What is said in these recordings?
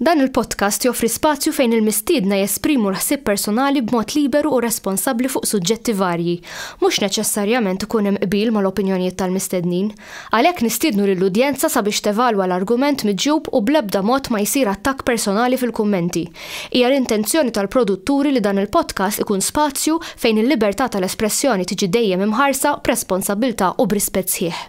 Dan il-podcast joffri spazju fejn il-mistiedna jesprimu l-ħsieb personali b'mod liberu u responsabbli fuq suġġetti varji. Mhux neċessarjament ikun hemm qbil mal-opinjonijiet tal-mistednin. Għalhekk nistiednu lill-udjenza sabiex tevalwa l-argument miġjub u bl-ebda mod ma jsir attakk personali fil-kummenti. Hija l-intenzjoni tal-produtturi li dan il-podcast ikun spazju fejn il-libertà tal-espressjoni tiġi dejjem imħarsa b'responsabbiltà u b'rispett sħiħ.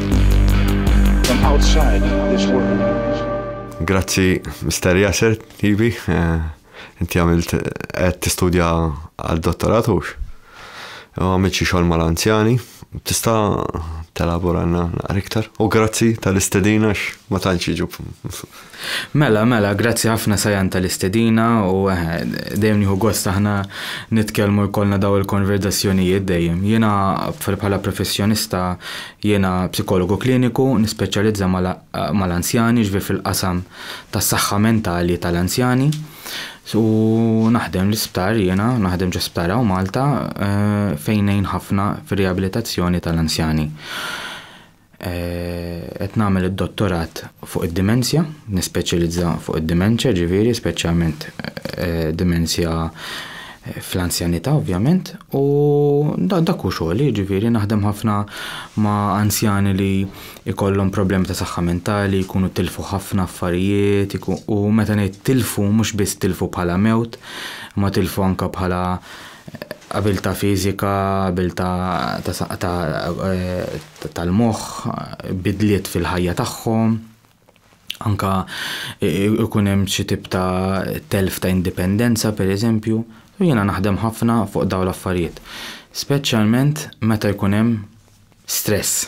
Grazzi, Mr. Yasser, tibi. Eh, inti għamilt għed t-studja għal-dottorat ux. Għamilt xie xol mal-anzjani. Tista telabora għanna iktar. U grazzi tal-istedina ma tanċiġu. Mela, mela, grazzi ħafna Sajan tal-istedina u eħe, dejjem nieħu gost aħna nitkellmu jkollna daw il-konverzazzjonijiet dejjem. Jiena bħala professjonista jiena psikologu kliniku nispeċjalizza mal-anzjani jiġifieri fil-qasam tas-saħħa mentali tal-anzjani u naħdem l-isptar jiena, naħdem ġo sptar hawn Malta fejn ngħin ħafna fir-riabilitazzjoni tal-anzjani. Qed nagħmel id-dottorat fuq id-dimensja, nispeċjalizza fuq id-dimenċja ġifieri speċjalment dimensja fl-anzjanità ovvjament u dak hu xogħli ġifieri naħdem ħafna ma' anzjani li jkollhom problemi ta' saħħa mentali, jkunu tilfu ħafna affarijiet u meta ngħid tilfu mhux biss tilfu bħala mewt imma tilfu anke bħala Abiltà fiżika, abiltà tal-moħħ, bidliet fil-ħajja tagħhom, anke jkun hemm xi tip ta' telf ta' indipendenza pereżempju. U jiena naħdem ħafna fuq dawn l-affarijiet, speċjalment meta jkun hemm stress.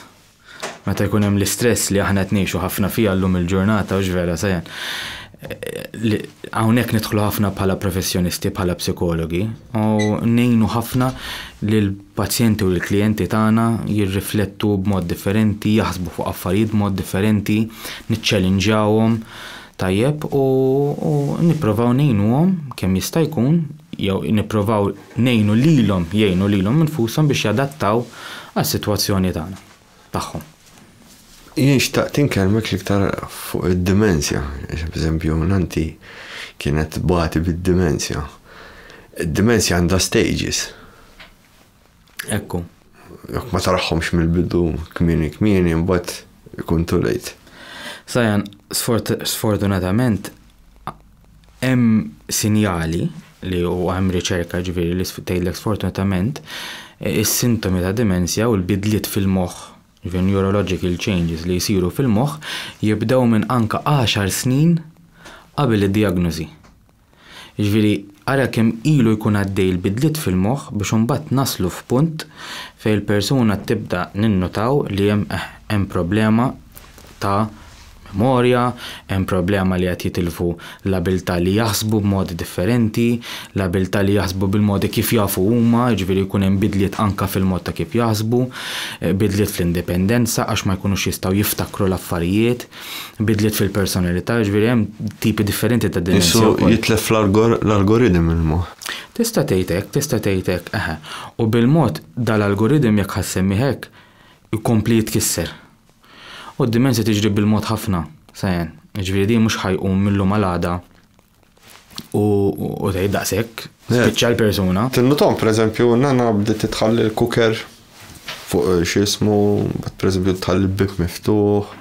Meta jkun hemm l-istress li aħna qed ngħixu ħafna fiha llum il-ġurnata hux vera Sajan. Hawnhekk nidħlu ħafna bħala professjonisti, bħala psikologi u ngħinu ħafna li l-pazjenti u l-klijenti tagħna jirriflettu b'mod differenti, jaħsbu fuq affarijiet b'mod differenti, niċċelinġawhom tajjeb u nipprovaw ngħinuhom kemm jista' jkun jew nipprovaw ngħinu lilhom jgħinu lilhom infushom biex jadattaw għas-sitwazzjoni tagħna, tagħhom. Jien xtaqt inkellmek l-iktar fuq id-dimensja, għax b'eżempju nannti kienet tbati bid-dimensja. Id-dimensja għandha stages. Ekku. Jekk ma taraħhomx mill-bidu kmieni kmieni mbagħad ikun too late. Sajan, sfortunatament Hemm sinjali li u hemm riċerka ġifieri li tgħidlek sfortunatament is-sintomi ta' dimensja u l-bidliet fil-moħħ, ġifieri neurological changes li jsiru fil-moħħ jibdew minn anke għaxar snin qabel id-djagnożi. Jiġifieri ara kemm ilu jkun għaddej il-bidliet fil-moħħ biex imbagħad naslu f'punt fejn il-persuna tibda ninnutaw li hemm eħ hemm problema ta' memorja, hemm problema li qed jitilfu l-abiltà li jaħsbu b'modi differenti, l-abiltà li jaħsbu bil-modi kif jafu huma, jiġifieri jkun hemm bidliet anke fil-mod ta' kif jaħsbu, bidliet fl-indipendenza għax ma jkunux jistgħu jiftakru l-affarijiet, bidliet fil-personalità, jiġifieri hemm tipi differenti ta' dimensja wkoll. Qisu jitlef l-algoridm il-moħħ. Tista' tgħid hekk, tista' tgħid hekk, eħe. U bil-mod dal-algoridm jekk ħa ssemmih hekk, ikompli jitkisser. U d-dimensja tiġri bil-mod ħafna, Sajan. Jiġifieri din mhux ħajqum mill-lum għal għada u tgħid daqshekk, spiċċa l-persuna. Tinnutom, pereżempju, nana bdiet titħalli l-kuker fuq xi jismu, mbagħad pereżempju tħalli l-bieb miftuħ,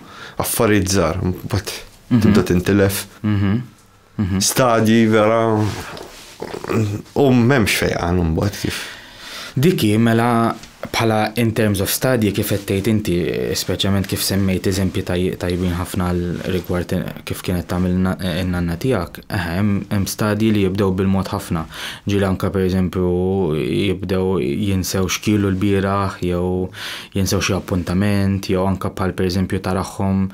affarijiet żgħar, mbagħad tibda tintilef. Mhm. Stadji vera u m'hemmx fejqan imbagħad kif. Diki mela bħala in terms of stadji kif qed tgħid inti, speċjalment kif semmejt eżempji tajbin ħafna rigward kif kienet tagħmel in-nanna tiegħek, hemm stadji li jibdew bil-mod ħafna. Ġieli anke pereżempju jibdew jinsew xkielu l-bieraħ jew jinsew xi appuntament jew anke bħal pereżempju tarahom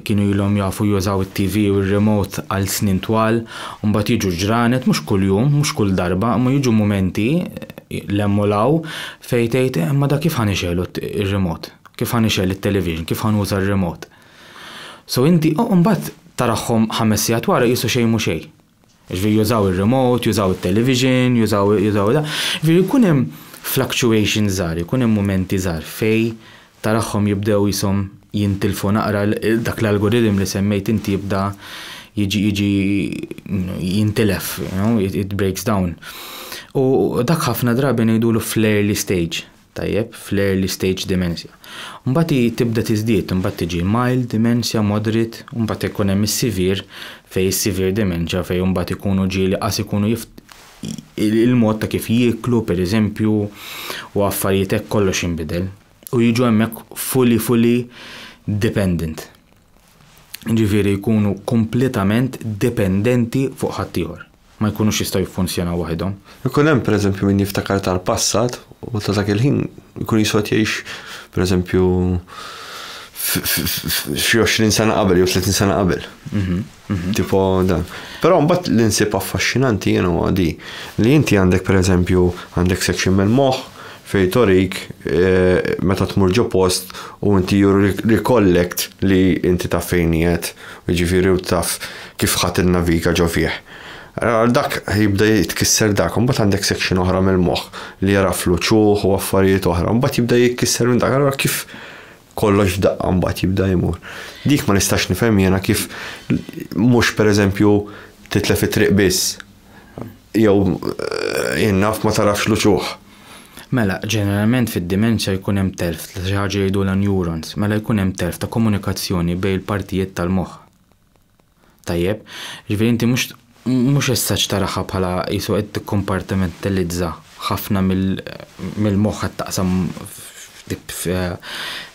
Kienu ilhom jafu jużaw it-TV u r-remote għal snin twal, u mbagħad jiġu ġranet mhux kuljum, mhux kull darba, imma jiġu mumenti l hemm u l hawn fejn tgħid imma da kif ħa nixegħlu r-remote? Kif ħa nixgħel it-television? Kif ħa nuża r-remote? So inti u mbagħad tarahom ħames sigħat wara qisu xejn mhu xejn. Jiġifieri jużaw ir-remote, jużaw it-television, jużaw jużaw da. Jiġifieri jkun hemm fluctuations żgħar, jkun hemm mumenti żgħar fej tarahhom jibdew qishom jintilfu naqra dak l-algorithm li semmejt inti jibda jiġi jiġi jintilef, you know, it breaks down. U dak ħafna drabi ngħidulu fl-early stage. tajjeb fl-early stage dementia. Mbagħad hi tibda tiżdied, imbagħad tiġi mild dementia, moderate, u mbagħad ikun hemm is-severe fejn is-severe dementia fejn imbagħad ikunu ġieli qas ikunu jif il-mod ta' kif jieklu pereżempju u affarijiet hekk kollox jinbidel u jiġu hemmhekk fully fully dependent. jiġifieri jkunu kompletament dipendenti fuq ħaddieħor, ma jkunux jistgħu jiffunzjonaw waħidhom. Ikun hemm, pereżempju, min jiftakar tal-passat u ta' dak il-ħin jkun jiswa qed jgħix, pereżempju, f'xi għoxrin sena qabel jew tletin sena qabel. Mhm. Tipo dan. Però mbagħad li nsib affaxxinanti jien huwa di li inti għandek pereżempju għandek section mill-moħħ fej torik eh, meta tmur ġo post u inti jur recollect li inti taf fejn qiegħed, jiġifieri u taf kif ħadd innaviga ġo fih. Dak jibda jitkisser dak, mbagħad għandek section oħra mill-moħħ li jara fluċuħ u affarijiet oħra, mbagħad jibda jitkisser minn dak, allura kif kollox f'daqqa mbagħad jibda jmur. Dik ma nistax nifhem jiena kif mhux pereżempju titlef it-triq biss. Jew eh, jien naf ma tarafx luċuħ. Mela, ġeneralment fid-dimensja jkun hemm telf ta' xi ħaġa jgħidulha neurons, mela jkun hemm telf ta' komunikazzjoni bejn il-partijiet tal-moħħ. Tajjeb, jiġifieri inti mhux mhux essaċ taraha bħala qisu qed tikkompartimentalizza ħafna mill-moħħ qed taqsam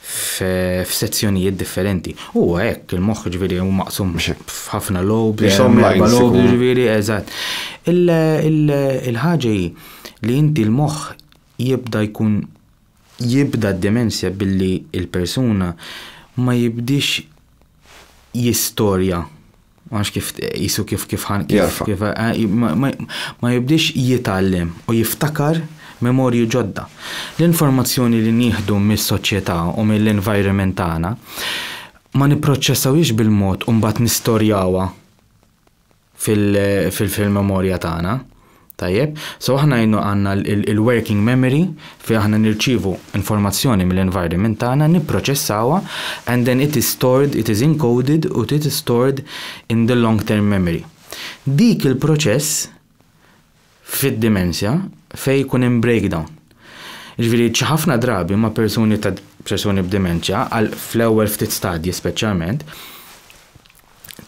f'sezzjonijiet differenti. Huwa hekk, il-moħħ jiġifieri hu maqsum f'ħafna lobes. Qishom lines ikunu. Jiġifieri, eżatt. Il-ħaġa hi li inti l-moħħ jibda jkun Jibda d-demenzja billi l-persuna ma jibdiex jistorja, ma nafx kif qisu kif kif ħan kif kif ma jibdiex jitgħallem u jiftakar memorji ġodda. L-informazzjoni li nieħdu mis-soċjetà u mill-environment tagħna ma nipproċċessawhiex bil-mod u mbagħad nistorjawha fil-memorja tagħna. Tajjeb, so aħna jnu għanna il-working memory fi aħna nirċivu informazzjoni mill-environment tagħna, nipproċessawa, and then it is stored, it is encoded u it is stored in the long term memory. Dik il-proċess fid-dimensja fejn jkun hemm breakdown. Jiġifieri xi ħafna drabi ma' persuni ta' persuni b'dimenċja għal fl-ewwel ftit stadji speċjalment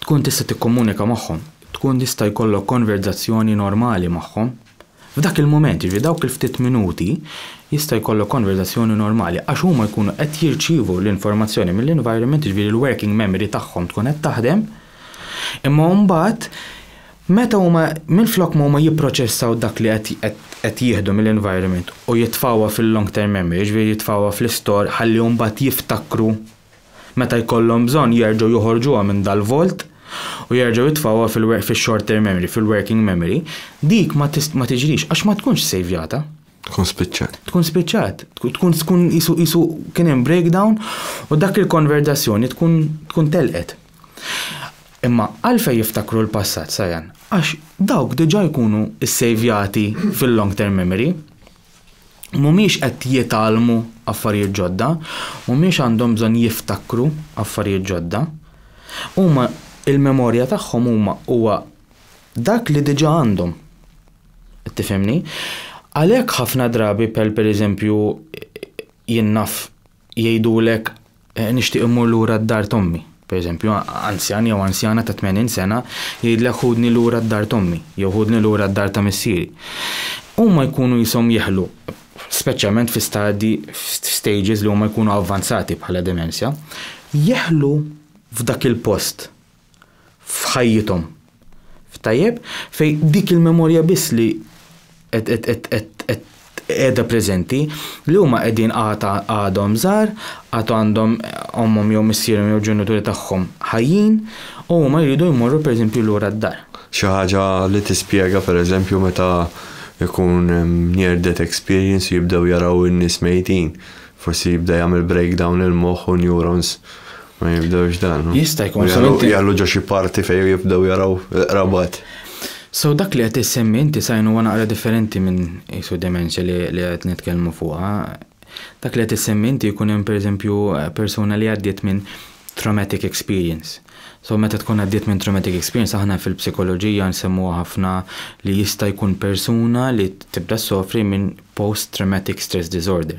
tkun tista' tikkomunika magħhom, tkun tista' jkollok konverżazzjoni normali magħhom. F'dak il-mument, jiġifieri dawk il-ftit minuti jista' jkollok konverżazzjoni normali għax huma jkunu qed jirċievu l-informazzjoni mill-environment, jiġifieri l-working memory tagħhom tkun qed taħdem, Imma mbagħad meta huma minflok ma huma jipproċessaw dak li qed jieħdu mill-environment u jitfgħuha fil-long term memory, jiġifieri jitfgħuha fl-istor ħalli mbagħad jiftakru meta jkollhom bżonn jerġgħu joħorġuha minn dal-vault u jerġgħu jitfgħuha fil-short term memory, fil-working memory, dik ma tiġrix għax ma tkunx ssejvjata. Tkun spiċċat. Tkun spiċċat, tkun tkun isu isu kien hemm breakdown u dak il-konverdazzjoni tkun tkun telqet. Imma għalfej jiftakru l-passat sajan? Għax dawk diġà jkunu ssejvjati fil-long term memory. Mhumiex qed jitgħallmu affarijiet ġodda, mhumiex għandhom bżonn jiftakru affarijiet ġodda. Huma il-memorja tagħhom huma huwa dak li diġà għandhom. Tifhimni? Għalhekk ħafna drabi bħal pereżempju jien naf jgħidulek eh, nixtieq immur lura d-dar tommi. Pereżempju, anzjan jew anzjana ta' 80 sena jgħidlek ħudni lura d-dar tommi jew ħudni lura d-dar ta' missieri. Huma jkunu jisom jeħlu, speċjalment fi stadji, stages li huma jkunu avvanzati bħala demenzja, jeħlu f'dak il-post f'ħajjithom. Tajjeb? Fejn dik il-memorja biss li qiegħda preżenti li huma qegħdin għad għadhom żgħar, għad għandhom ommhom jew missierhom jew ġenituri tagħhom ħajjin u huma jridu jmorru pereżempju lura d-dar. Xi ħaġa li tispjega pereżempju meta jkun hemm near death experience u jibdew jaraw in-nies mejtin. Forsi jibda jagħmel breakdown il-moħħ u neurons Ma jibdewx dan. Jista' jkun so inti. Jgħallu ġo xi parti fejn jibdew jaraw il-qrabat. So dak li qed issemmi inti sajn huwa naqra differenti minn isu dementia li qed nitkellmu fuqha. Dak li qed issemmi inti jkun hemm pereżempju persuna li għaddiet minn traumatic experience. So meta tkun għaddiet minn traumatic experience aħna fil-psikoloġija nsemmuha ħafna li jista' jkun persuna li tibda ssofri minn post traumatic stress disorder,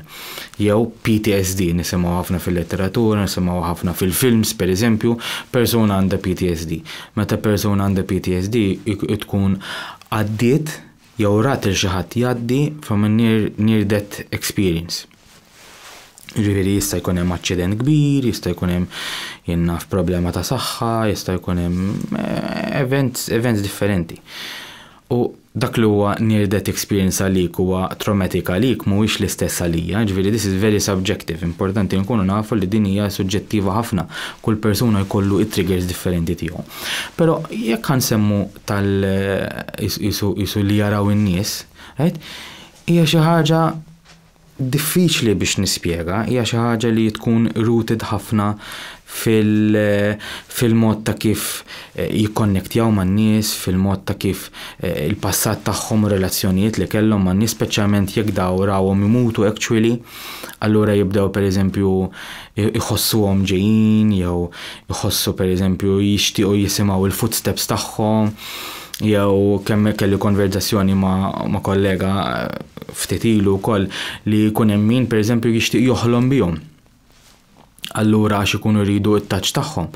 jew PTSD, nisimgħu ħafna fil-letteratura, nisimgħu ħafna fil-films pereżempju, persuna għandha PTSD. Meta persuna għandha PTSD tkun għaddiet jew rat il xi ħadd jgħaddi from a near, near death experience. Ġifieri jista' jkun hemm aċċident kbir, jista' jkun hemm jinnaf problema ta' saħħa, jista' jkun hemm eh, events, events differenti. U Dak li huwa near death experience għalik huwa traumatic għalik mhuwiex l-istess għalija, jiġifieri this is very subjective, importanti nkunu nafu li din hija suġġettiva ħafna, kull persuna jkollu it-triggers differenti tiegħu. Però jekk ħa nsemmu tal qisu li jaraw in-nies, right? Hija xi ħaġa Diffiċli biex nispjega, hija xi ħaġa li tkun rooted ħafna fil-mod ta' kif jikkonnektjaw man-nies, fil-mod ta' kif il-passat tagħhom u relazzjonijiet li kellhom man-nies, speċjalment jekk dawn rawhom imutu actually, allura jibdew pereżempju iħossuhom ġejjin jew iħossu pereżempju jixtiequ jisimgħu l-footsteps tagħhom jew kemm kelli konverzazzjoni ma' kollega eh, ftit ilu wkoll li jkun hemm min pereżempju jixtieq joħlom bihom. Allura għax ikunu jridu t-taċ tagħhom,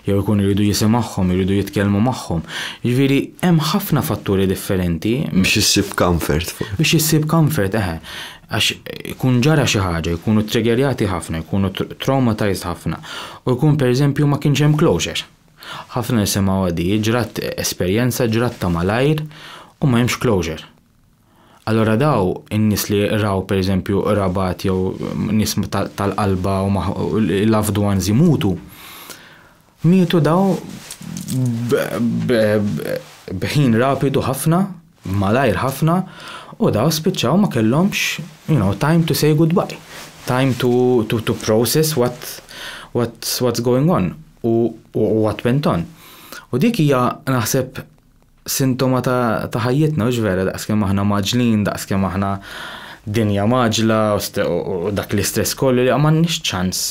jew ikunu jridu jisimgħuhom, jridu jitkellmu magħhom. Ġifieri hemm ħafna fatturi differenti. Biex issib comfort. Biex issib comfort, eħe. għax ikun ġara xi ħaġa, jkunu triggerjati ħafna, jkunu traumatized ħafna u jkun pereżempju ma kienx hemm closure. Ħafna nisimgħu għadi, ġrat esperjenza, ġrat ta' malajr u ma hemmx closure. Allura daw in-nies li raw pereżempju qrabat jew nies tal-qalba u loved ones imutu, Mietu dawn b'ħin rapidu ħafna, malajr ħafna, u dawn spiċċaw ma kellhomx you know, time to say goodbye, time to, to, to process what, what, what's going on u, u what went on. U dik hija naħseb sintoma ta' ta' ħajjitna mhux vera daqskemm aħna mgħaġġlin, daqskemm aħna dinja mgħaġġla u st u u dak l-istress kollu li m'għandniex ċans.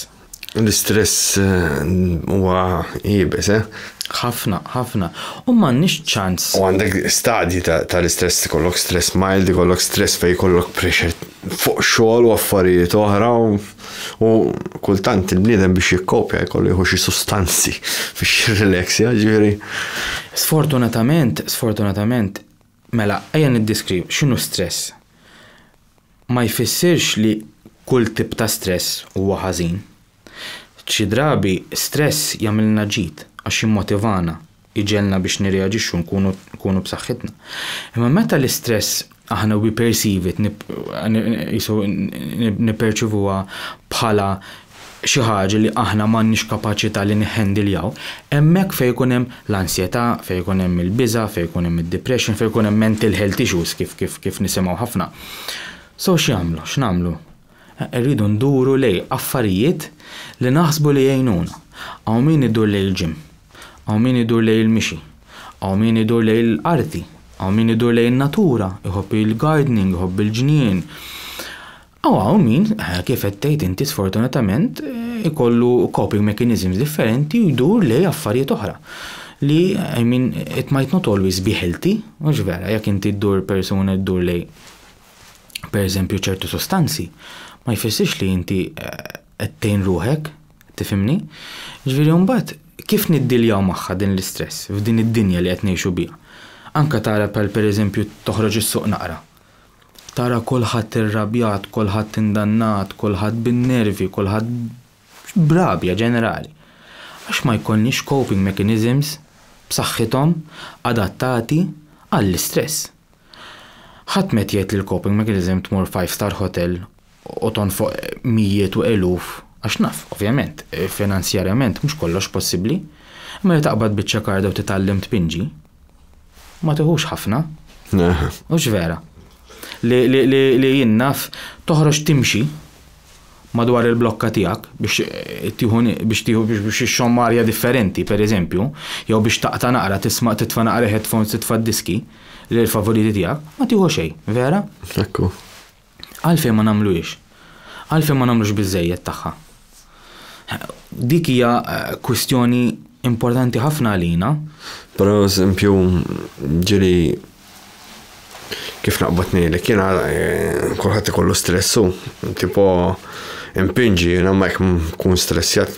L-istress huwa iebes, eh? Ħafna, ħafna. U m'għandniex ċans. U għandek stadji ta' tal-istress, ikollok stress mild, ikollok stress fejn jkollok pressure fuq xogħol u affarijiet oħra u. U kultant il-bniedem biex jikkopja jkollu jieħu xi sustanzi biex jirrileksja, ġifieri. Sfortunatament, sfortunatament, mela ejja niddeskriv x'inhu stress. Ma jfissirx li kull tip ta' stress huwa ħażin. Xi drabi stress jagħmilna ġid għax jimmotivana, jġegħlna biex nirreaġixxu nkunu nkunu b'saħħitna. Imma meta l-istress aħna we perceive it qisu nipperċivuha bħala xi ħaġa li aħna m'għandniex kapaċità li nihhandiljaw, hemmhekk fejn ikun hemm l-ansjetà, fejn ikun hemm il-biża', fejn ikun hemm id-depression, fejn ikun hemm mental health issues kif kif kif nisimgħu ħafna. So x'jagħmlu? X'nagħmlu? Irridu nduru lejn affarijiet li naħsbu li jgħinuna. Hawn min idur lejn il-gym. Hawn min idur lejn il-mixi. Hawn min idur lejn l-arti. Hawn min idur lejn in-natura, iħobb il-gardening, iħobb il-ġnien. U hawn min, kif qed tgħid inti sfortunatament, ikollu coping mechanisms differenti u jdur lejn affarijiet oħra. Li, I mean, it might not always be healthy, mhux vera, jekk inti ddur persuna ddur lejn pereżempju ċertu sustanzi, ma jfissirx li inti qed tgħin ruħek, tifhimni? Ġifieri u mbagħad kif niddiljaw magħha din l-istress f'din id-dinja li qed ngħixu biha? Anke tara bħal pereżempju toħroġ is-suq naqra, tara kulħadd irrabjat, kulħadd indannat, kulħadd bin-nervi, kulħadd b'rabja ġenerali. Għax ma jkollniex coping mechanisms b'saħħithom adattati għall-istress. Ħadd m'qed jgħid li l-coping mechanism tmur five star hotel u tonfoq mijiet u eluf, għax naf, ovvjament, finanzjarjament mhux kollox possibbli, imma li taqbad biċċa karda u titgħallem tpinġi ma tiħux ħafna. Hux vera? Li jien naf toħroġ timxi. madwar il-blokka tiegħek biex tieħu biex tieħu biex ixxomm arja differenti, pereżempju, jew biex taqta' naqra tisma' titfa' naqra headphones titfa' d-diski li l-favoriti tiegħek, ma tieħu xejn, vera? Hekk hu. Għalfejn ma nagħmluhiex? Għalfejn ma nagħmlux biżżejjed tagħha? Dik hija kwistjoni importanti ħafna għalina. Pereżempju, ġieli Kif naqbad ngħidlek jiena kulħadd ikollu stress hu, tipo impinġi jiena ma jekk nkun stressjat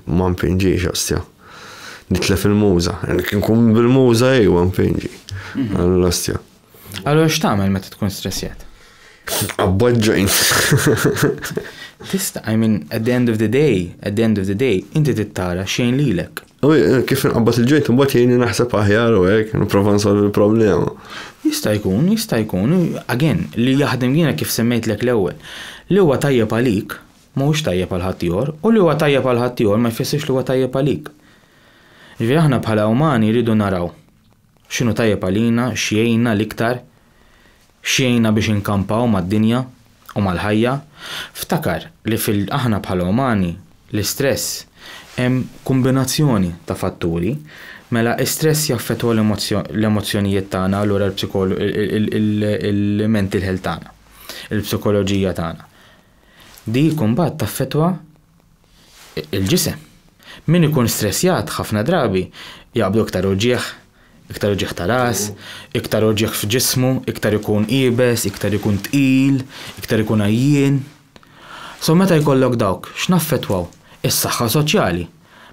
ma mpinġix ostja. Nitlef il-muża, jekk nkun bil-muża ejwa mpinġi. Għall-ostja. Allura x'tagħmel meta tkun stressjat? Abboġġajn. Tista, I mean, at the end of the day, at the end of the day, inti tittara xejn lilek. U eh, kif nqabbad il-ġejt, mbagħad jgħinni naħseb aħjar u hekk, nipprova nsolvi l-problema. Jista' jkun, jista' jkun, again, li jaħdem jiena kif semmejtlek l-ewwel. Li huwa tajjeb għalik, mhuwiex tajjeb għal ħaddieħor, u li huwa tajjeb għal ħaddieħor ma jfissirx li huwa tajjeb għalik. Ġifieri aħna bħala umani rridu naraw. X'inhu tajjeb għalina, x'jgħinna l-iktar, x'jgħinna biex inkampaw mad-dinja u mal-ħajja, ftakar li fil aħna bħala umani, l-istress hemm kumbinazzjoni ta' fatturi, mela istress jaffettwa l-emozzjonijiet tagħna allura l-mental health tagħna, il-psikoloġija tagħna. Dik imbagħad taffettwa. il-ġisem. Min ikun stressjat ħafna drabi jaqbdu iktar uġigħ, iktar uġigħ ta' ras, iktar uġigħ f'ġismu, iktar ikun iebes, iktar ikun tqil, iktar ikun għajjien. So meta jkollok dawk x'naffettwaw? Is-saħħa soċjali.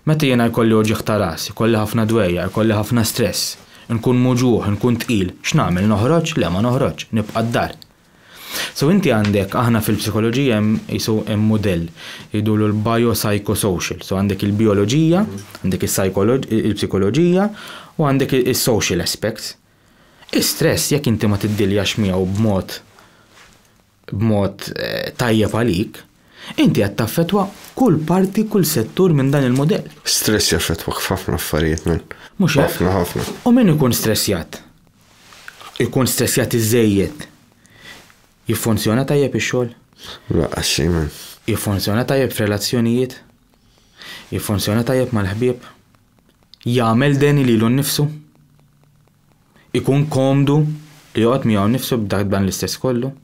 Meta jiena jkolli uġigħ ta' ras, ikolli ħafna dwejjaq, ikolli ħafna stress, inkun muġugħ, inkun tqil, x'nagħmel, noħroġ? Le ma noħroġx, nibqa' d-dar. So inti għandek, aħna fil-psikoloġija hemm qisu hemm mudell jgħidulu l-biopsychosocial. So għandek il-bioloġija, għandek il-psikoloġija u għandek is-social aspects. Is-stress jekk inti ma tiddiljax miegħu b'mod b'mod eh, tajjeb għalik, inti qed taffetwa kull parti, kull settur minn dan il-modell. Stress jaffetwa ħafna affarijiet minn. Mhux ħafna ħafna. U min ikun stressjat? Ikun stressjat iżżejjed. Jiffunzjona tajjeb ix-xogħol? Laqqas xejn man. Jiffunzjona tajjeb f'relazzjonijiet? Jiffunzjona tajjeb mal-ħbieb? Jagħmel deni lilu nnifsu? Ikun komdu li joqgħod miegħu nnifsu b'dan l-istress kollu?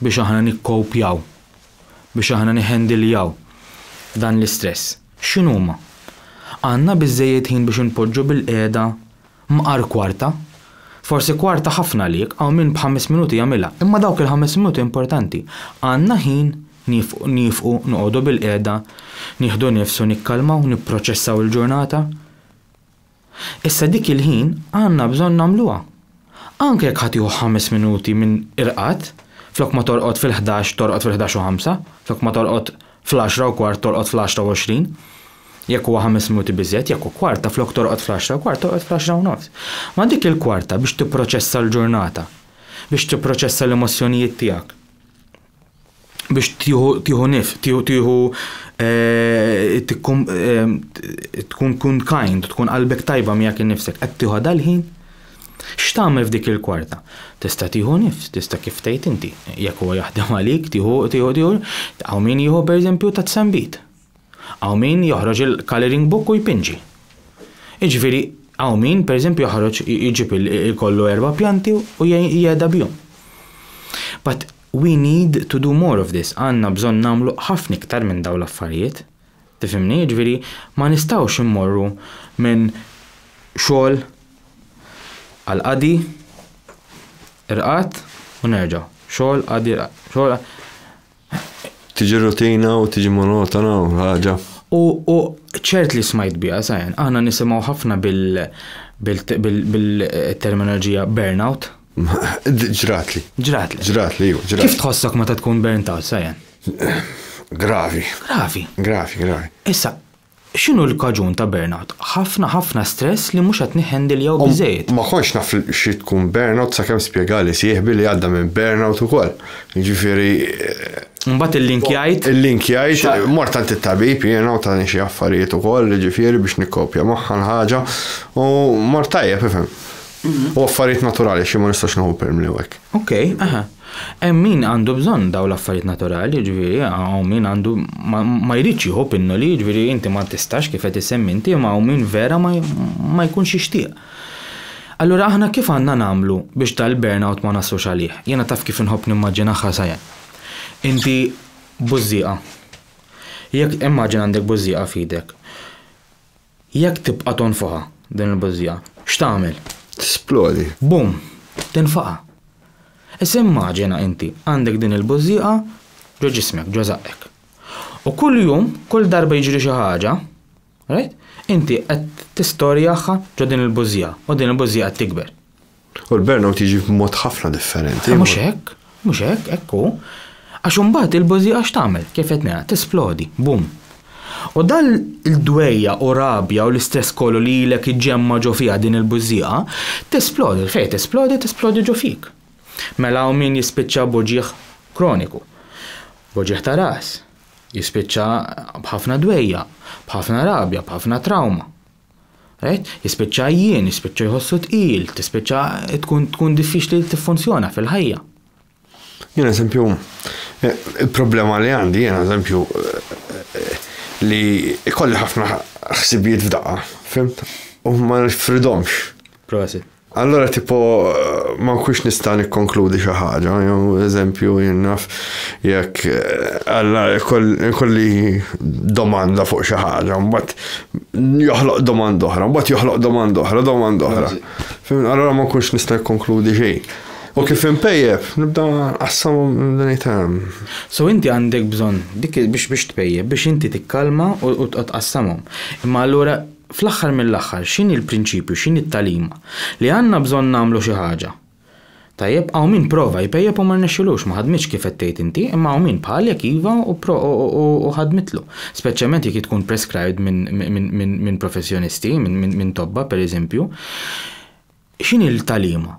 biex aħna nikkowpjaw, biex aħna niħendiljaw dan l-istress, x'inhuma? Għandna biżżejjed ħin biex inpoġġu bilqiegħda mqar kwarta? Forsi kwarta ħafna għalik, hawn min b'ħames minuti jagħmilha, imma dawk il-ħames minuti importanti. Għandna ħin niefqu, noqogħdu bilqiegħda, nieħdu nifs u nikkalmaw, nipproċessaw il-ġurnata? Issa dik il-ħin għandna bżonn nagħmluha. Anke jekk ħa tieħu ħames minuti minn irqad, flok ma torqod fil-ħdax torqod fil-ħdax u ħamsa, flok ma torqod fl-għaxra u kwart torqod fl-għaxra u għoxrin, jekk huwa ħames minuti biżżejjed, jekk hu kwarta flok torqod fl-għaxra u kwart torqod fl-għaxra u nofs. Ma dik il-kwarta biex tipproċessa l-ġurnata, biex tipproċessa l-emozzjonijiet tiegħek. biex tieħu nif, tieħu tieħu eh, eh, tkun kun kind, tkun qalbek tajba miegħek innifsek, qed tieħu dal-ħin? X'tagħmel f'dik il-kwarta? Tista' tieħu nifs, tista' kif tgħid inti, jekk huwa jaħdem għalik, tieħu tieħu tieħu, hawn min jieħu pereżempju ta' tsambit. Hawn min joħroġ il-colouring book u jpinġi. Jiġifieri hawn min pereżempju joħroġ jġib ikollu erba' pjanti u jgħeda bihom. But we need to do more of this, għandna bżonn nagħmlu ħafna iktar minn dawn l-affarijiet. Tifhimni? Jiġifieri ma nistgħux immorru minn xogħol għal qadi, irqad u nerġgħu. Xogħol, qadi, irqad. Tiġi rutina u tiġi monotona u ħaġa. U ċert li smajt biha sajan, aħna nisimgħu ħafna bil-terminoloġija burnout. Ġratli. Ġratli. Ġratli, iva, ġratli. Kif tħossok meta tkun burnt out sajan? Gravi. Gravi. Gravi, gravi. Issa, X'inhu l-kaġun ta' burnout? Ħafna ħafna stress li mhux qed niħħendiljaw biżżejjed. Ma kontx naf xi tkun burnout sakemm spjegali sieħbi li għadda minn burnout ukoll. Jiġifieri. Imbagħad illinkjajt. Illinkjajt, mort għand it-tabib jiena u tani xi affarijiet ukoll, jiġifieri biex nikkopja magħha l-ħaġa u mort tajjeb, ifhem. U affarijiet naturali għax jien ma nistax nieħu permli u hekk. Okej, aha. Hemm min għandu bżonn dawn l-affarijiet naturali, jiġifieri hawn min għandu ma jridx jieħu pinnoli, jiġifieri inti ma tistax kif qed issemmi inti imma hawn min vera ma jkunx jixtieq. Allura aħna kif għandna nagħmlu biex dal-burnout ma naslux għalih? Jiena taf kif inħobb nimmaġinah ħasajen. Inti bużżieqa. Jekk immaġina għandek bużżieqa f'idek. Jekk tibqa' tonfoħha, din il-bużżija, x'tagħmel? Tisplodi. Bum! Tinfaqa'. Issa immaġina inti għandek din il-bużżieqa ġo ġismek, ġo żaqqek. U kull jum, kull darba jiġri xi ħaġa, right, inti qed tistorjaħha ġo din il-bużżieqa u din il-bużżieqa qed tikber. U l-burnout jiġi b'mod ħafna differenti. Mhux hekk, mhux hekk, hekk hu. Għax imbagħad il-bużieqa x'tagħmel? Kif qed ngħid, tisplodi, bum. U dan il-dwejja u rabja u l-istress kollu li ilek iġġemma' ġo fiha din il-bużieqa, tisplodi, fejn tisplodi, tisplodi ġo fik. Mela hawn min jispiċċa b'uġigħ kroniku, b'uġigħ ta' ras, jispiċċa b'ħafna dwejja, b'ħafna rabja, b'ħafna trawma. Right? Jispiċċa għajjien, jispiċċa jħossu tqil, tispiċċa tkun tkun diffiċli li tiffunzjona fil-ħajja. Jien eżempju, eh, il-problema li għandi jien eżempju eh, li ikolli ħafna ħsibijiet f'daqqa, fimt? U ma nifridomx. Prosit. Allura tipo ma nkunx nista' nikkonkludi xi ħaġa, jew eżempju jinnaf jekk alla kolli domanda fuq xi ħaġa, mbagħad joħloq domanda oħra, mbagħad joħloq domanda oħra, domanda oħra. Allura ma nkunx nista' nikkonkludi xejn. U kif impejjeb, nibda qassam ngħidhom. So inti għandek bżonn dik biex biex tpejjeb biex inti tikkalma u tqassamhom. Imma allura Fl-aħħar mill-aħħar x'inhi l-prinċipju, x'inhi t-tagħlima? Li għandna bżonn nagħmlu xi ħaġa. Tajjeb, hawn min prova jpejjep u ma rnexxilux, ma ħadmitx kif qed tgħid inti, imma hawn min bħalek iva u ħadmitlu. Speċjalment jekk hi tkun prescribed minn professjonisti, minn tobba pereżempju. X'inhi l-tagħlima?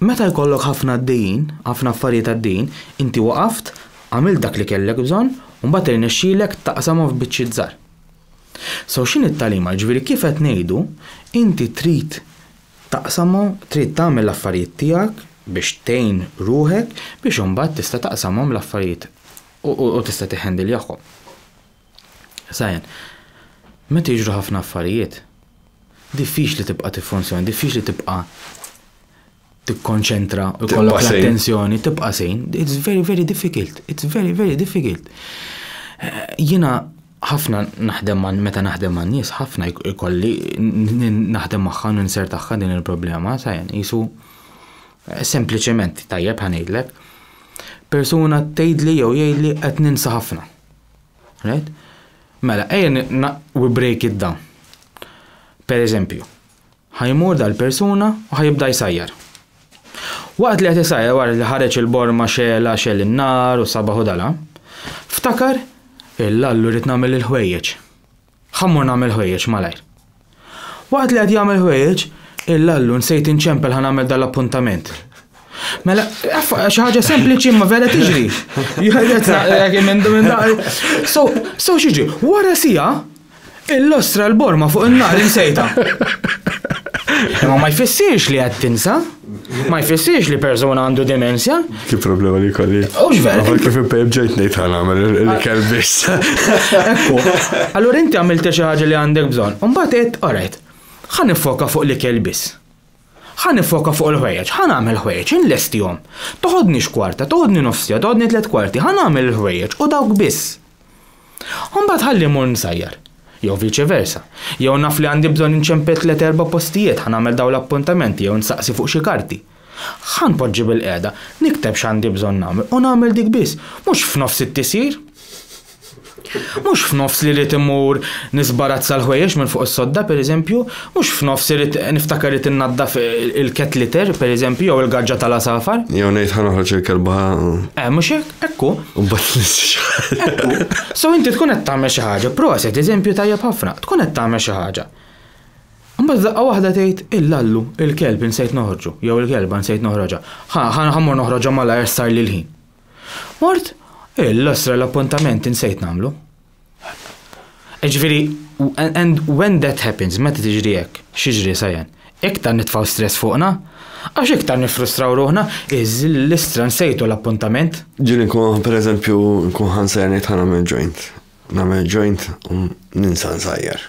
Meta jkollok ħafna għaddejjin, ħafna affarijiet għaddejjin, inti waqaft, għamilt dak li kellek bżonn, u mbagħad irnexxielek taqsamhom f'biċċiet żgħar. So x'inhi t-tagħlima? Jiġifieri kif qed ngħidu, inti trid taqsamhom, trid tagħmel l-affarijiet tiegħek biex tgħin ruħek biex imbagħad tista' taqsamhom l-affarijiet u tista' tiħendiljahom. Sajn, Meta jiġru ħafna affarijiet, diffiċli tibqa' tiffunzjona, diffiċli tibqa' tikkonċentra, ikollok l-attenzjoni, tibqa' sejn. It's very, very difficult. It's very, very difficult. Jiena ħafna naħdem man meta naħdem man nies, ħafna jkolli naħdem magħha ninser tagħha din il-problema, sajn, jisu sempliċement tajjeb ħanejlek. Persuna tgħidli jew jgħidli qed ninsa ħafna. Right? Mela, ejja we break it down. Per eżempju, ħajmur dal-persuna u ħajibda jsajjar. Waqt li qed isajjar wara li ħareġ il-borma xela xel in-nar u sabaħu dala, ftakar il-lallu rrid nagħmel il-ħwejjeġ. Ħa mmur nagħmel ħwejjeġ malajr. Waqt li qed jagħmel ħwejjeġ, il-lallu nsejt inċempel ħa nagħmel dal-appuntament. Mela, xi ħaġa sempliċi ma vera tiġri. So, so xiġi, wara sija, il-lostra l-borma fuq in-nar insejta. Imma ma jfissirx li qed tinsa. Ma jfissirx li persuna għandu demenzja. Ki problema li kolli. Ux vera. Għafan kif impejb ġejt nejt għan għamil li kell biss. Ekku. Allur inti għamilt xi ħaġa li għandek bżon. Umbat għed, għarajt, ħan nifoka fuq li kell biss. ħan nifoka fuq il-ħwejġ, ħan għamil ħwejġ, inlestijom. Toħodni xkwarta, toħodni nofsija, toħodni tlet kwarti, ħan għamil il-ħwejġ u dawk biss. U mbagħad ħalli mmur nsajjar. Jew viċi versa. Jew naf li għandi bżonn inċempel tliet erba' postijiet, ħa nagħmel dawn l-appuntamenti jew nsaqsi fuq xi karti. Ħa npoġġi bilqiegħda, nikteb x'għandi bżonn nagħmel u nagħmel dik biss, mhux f'nofs it-tisjir. Mhux f'nofs li rrid immur nisbarazza l-ħwejjeġ minn fuq is-sodda, pereżempju, Mhux f'nofs irid niftakar irid innaddaf il-cat litter, pereżempju, jew il-gaġġa tal-għasafar. Jew ngħid ħa noħroġ il-kelba. Eh, mhux hekk, ekku. U bat Ekku. So inti tkun qed tagħmel xi ħaġa, proset, eżempju tajjeb ħafna, tkun qed tagħmel xi ħaġa. Mbagħad daqqa waħda tgħid il-lallu, il-kelb insejt noħorġu, jew il-kelba insejt noħroġha. Ħa ħammur noħroġha malajr sar li l-ħin. Mort, il-losra l-appuntament insejt nagħmlu. Ġifieri, and when that happens, meta tiġri hekk, x'jiġri sajen? Iktar nitfgħu stress fuqna, għax iktar niffrustraw ruħna, l-istra nsejtu l-appuntament. Ġieli nkun, pereżempju, nkun ħansajr ngħid ħa nagħmel joint. Nagħmel joint u ninsa nsajjar.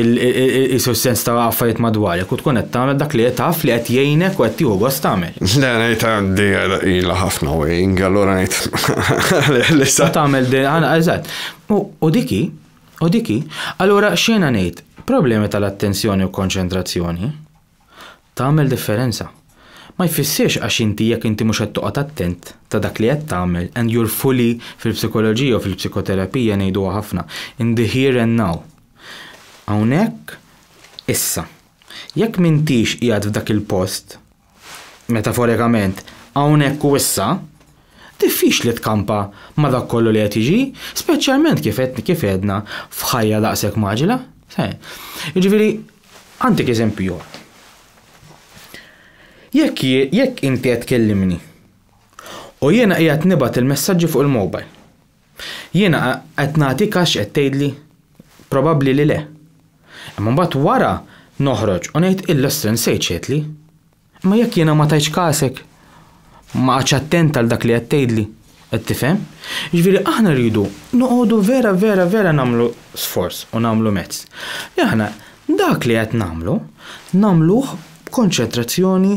Isu s-sens ta' affarijiet madwarek u tkun qed tagħmel dak li taf li qed jgħinek u qed tieħu gost tagħmel. Le ngħid għandi ilha ħafna wejing, allura ngħid għalih li sa. Tagħmel din, eżatt. U dik hi, u dik hi. Allura x'jiena ngħid, problemi tal-attenzjoni u konċentrazzjoni, Tagħmel differenza. Ma jfissirx għax inti jekk inti mhux qed toqgħod attent ta' dak li qed tagħmel and you're fully fil-psikoloġija u fil-psikoterapija ngħiduha ħafna in the here and now. Hawnhekk issa. Jekk m'intix qiegħed f'dak il-post, metaforikament, hawnhekk u issa, diffiċli tkampa ma' dak kollu li qed jiġi, speċjalment kif għedna f'ħajja daqshekk mgħaġġla. Jiġifieri Għandek eżempju ieħor. Jekk jekk inti qed tkellimni u jiena qiegħed nibgħat il-messaġġi fuq il-mobile, jiena qed nagħtik għax qed tgħidli? Probabbli li le. Imma mbagħad wara noħroġ u ngħid illa nsejt x'għedtli. Imma jekk jiena ma tajtx kasek, ma qgħadtx attent għal dak li qed tgħidli, qed tifhem? Jiġifieri aħna rridu noqogħdu vera vera vera nagħmlu sforz u nagħmlu mezz li aħna dak li qed nagħmlu nagħmluh b'konċentrazzjoni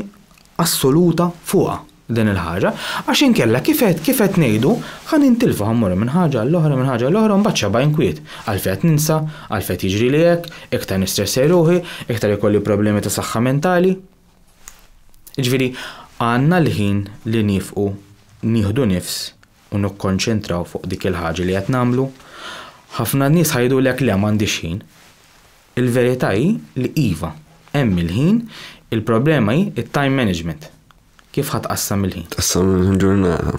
assoluta fuqha. din il-ħaġa, għax inkella kif qed kif qed ngħidu ħa nintilfu ħa mmorru minn ħaġa għall-oħra minn ħaġa għall-oħra u mbagħad x'għaba inkwiet, għalf qed ninsa, għalf qed jiġrili hekk, iktar nistressaj ruħi, iktar ikolli problemi ta' saħħa mentali. Jiġifieri għandna l-ħin li niefqu nieħdu nifs u nikkonċentraw fuq dik il-ħaġa li qed nagħmlu. Ħafna nies ħa jgħidulek le m'għandix ħin. Il-verità hi li iva, hemm il-ħin, il-problema hi t-time management. Kif ħa tqassam il-ħin? Tqassam il-ħin ġurnata.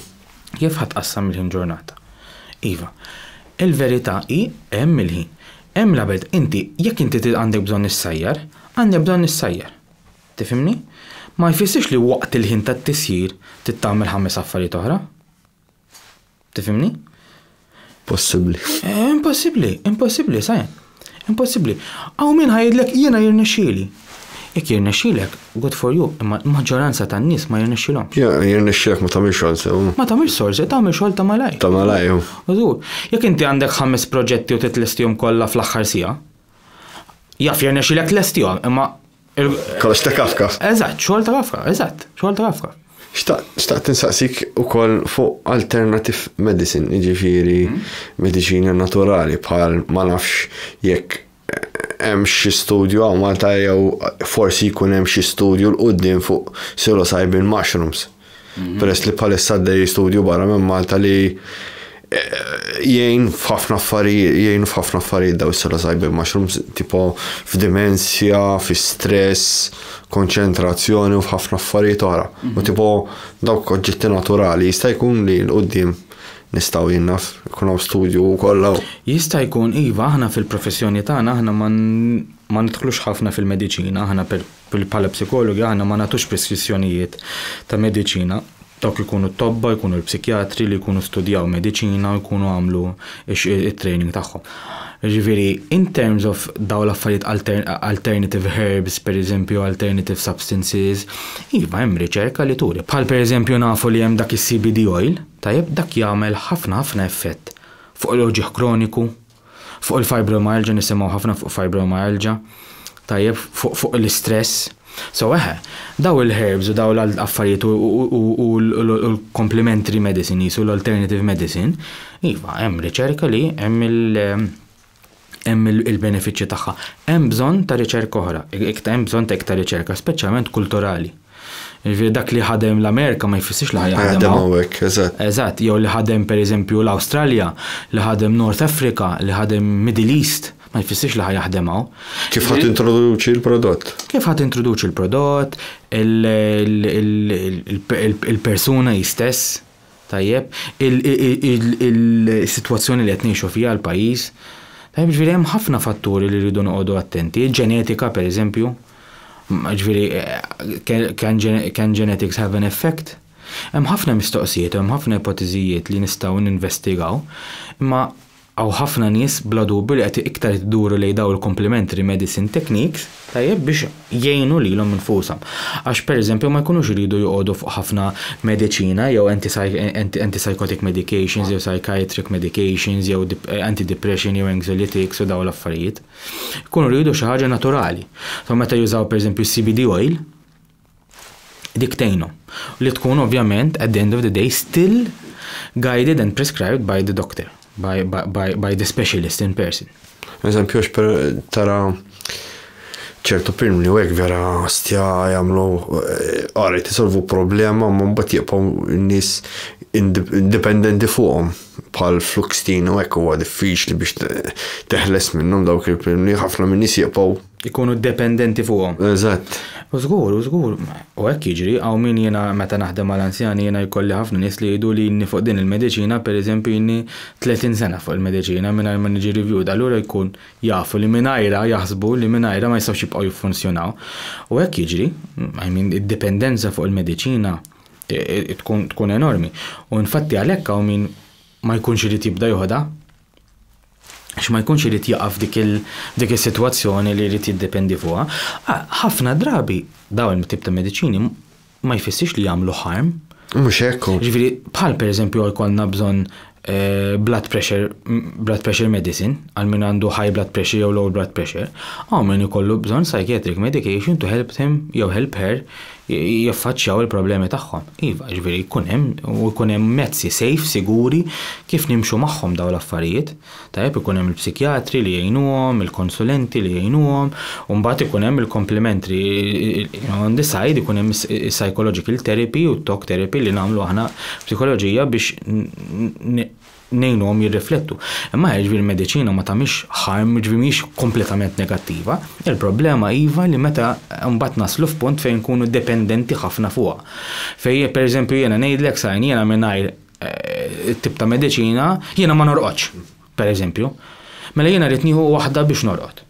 Kif ħa tqassam il-ħin ġurnata? Iva. Il-verità hi hemm il-ħin. Hemm l-abed, inti, jekk inti trid għandek bżonn issajjar, għandek bżonn issajjar. Tifhimni? Ma jfissirx li waqt il-ħin tat-tisjir trid tagħmel ħames affarijiet oħra. Tifimni? Possibbli. Eh, impossibbli, impossibbli, saj. Impossibbli. Aw min ħajdlek jiena jirnexxieli. Jekk jirnexxielek, good for you, imma l-maġġoranza tan-nies ma jirnexxilhom. Ja, jirnexxielek ma tagħmilx xogħol sew. Ma tagħmilx xogħol sew, tagħmel xogħol ta' malaj. Ta' malaj. Użur, jekk inti għandek ħames proġetti u titlestihom kollha fl-aħħar sija, jaf jirnexxielek tlestihom, imma Il-kollox ta' Kafka. Eżatt, xogħol ta' Kafka, eżatt, xogħol ta' Kafka. Xtaqt tinsaqsik ukoll fuq alternative medicine, jiġifieri mhm. mediċina naturali bħal ma nafx jekk hemm xi studju għaw Malta jew forsi jkun hemm xi studju l-qudiem fuq psilocybin mushrooms. Peress li bħalissa għaddej studju barra minn Malta li eh, jgħin f'ħafna affarijiet, jgħin f'ħafna affarijiet daw s-sala sajbin mushrooms, tipo f'dimensja, fi stress, konċentrazzjoni u f'ħafna affarijiet oħra. U mhm. tipo dawk oġġetti naturali jista' jkun li l-qoddim nistaw jinnaf, kun hawn studju u kollha. Jista' jkun iva aħna fil-professjoni tagħna aħna ma nidħlux ħafna fil-mediċina, aħna per Bħala psikologi aħna ma nagħtux preskrizzjonijiet ta' mediċina. Dawk ikunu t-tobba, jkunu l-psikjatri li jkunu studjaw mediċina u jkunu għamlu it-training tagħhom. Ġifieri, in terms of dawn l-affarijiet alternative herbs, pereżempju alternative substances, iva hemm riċerka li turi. Bħal pereżempju nafu li hemm dak is-CBD oil, tajjeb, dak jagħmel ħafna ħafna effett fuq l-uġigħ kroniku, Fuq il-fibromyalgia nisimgħu ħafna fuq fibromyalgia. Tajjeb, fuq fuq l-istress. So eħe, daw il-herbs u daw l-affarijiet u l-complementary medicine jisu l-alternative medicine, iva, hemm riċerka li hemm il- hemm il-benefiċċji tagħha. Hemm bżonn ta' riċerka oħra, hemm bżonn ta' iktar riċerka, speċjalment kulturali. Jiġifieri dak li ħadem l-Amerika ma jfissirx li ħajaħdem hawnhekk. Eżatt. Eżatt, jew li ħadem pereżempju l-Awstralja, li ħadem North Africa, li ħadem Middle East, ma jfissirx li ħajaħdem hawn. Kif ħadd introduċi l-prodott? Kif ħadd introduċi l-prodott, il-persuna jistess, Tajjeb, is-sitwazzjoni li qed ngħixu fiha l-pajjiż, tajjeb jiġifieri hemm ħafna fatturi li rridu noqogħdu attenti, il-ġenetika pereżempju, jiġifieri can genetics have an effect? Hemm ħafna mistoqsijiet u hemm ħafna ipotiżijiet li nistgħu ninvestigaw, imma Hawn ħafna nies bla dubju li qed iktar qed iduru lejn dawn il-complementary medicine techniques, tajjeb, biex jgħinu lilhom infushom. Għax per eżempju ma jkunux iridu joqogħdu fuq ħafna mediċina jew antipsychotic medications jew psychiatric medications jew antidepression jew anxiolytics u dawn l-affarijiet. Ikunu jridu xi ħaġa naturali. So meta jużaw per eżempju CBD oil, dik tgħinhom. Li tkun ovvjament at the end of the day still guided and prescribed by the doctor, by, by, by the specialist in person. Eżempju, per tara ċertu primni u vera stja jamlu għari eh, tisolvu problema ma mbat jibqaw n-nis indipendenti fuqom bħal fluxtin u għek huwa diffiċli biex teħles minnhom dawk il-primni ħafna minn nis jibqaw ikunu dependenti fuqhom. Eżatt. U żgur, u żgur, u hekk jiġri, hawn min jiena meta naħdem mal-anzjani jiena jkolli ħafna nies li jgħidu li ilni fuq din il-mediċina pereżempju ilni 30 sena fuq il-mediċina mingħajr ma niġi reviewed, allura jkun jafu li mingħajrha jaħsbu li mingħajrha ma jistgħux jibqgħu jiffunzjonaw. U hekk jiġri, I mean id-dipendenza fuq il-mediċina tkun enormi. U infatti għalhekk hawn min ma jkunx irid jibda joħodha għax ma jkunx irid jaqa' f'dik is-sitwazzjoni li jrid jiddependi fuqha. Ħafna drabi dawn il-tip ta' mediċini ma jfissirx li jagħmlu harm. Mhux hekk. Ġifieri bħal pereżempju jkollna bżonn eh, blood pressure, blood pressure medicine, għal min għandu high blood pressure jew low blood pressure, hawn min ikollu bżonn psychiatric medication to help him jew help her jaffaċċjaw il-problemi tagħhom. Iva, jiġifieri jkun hemm u jkun hemm mezzi safe, siguri, kif nimxu magħhom dawn l-affarijiet. Tajjeb, ikun hemm il-psikjatri li jgħinuhom, il-konsulenti li jgħinuhom, u mbagħad ikun hemm il-komplementri, on the side ikun hemm is-psychological therapy u t-talk therapy li nagħmlu aħna f'psikoloġija biex ngħinuhom jirriflettu. Imma jiġifieri l-mediċina ma tagħmilx harm, jiġifieri mhijiex kompletament negattiva. Il-problema iva li meta mbagħad naslu f'punt fejn nkunu dependenti ħafna fuqha. Fejn pereżempju jiena ngħidlek sajn jiena mingħajr eh, tip ta' mediċina jiena ma norqodx, pereżempju. Mela jiena rrid nieħu waħda biex norqod.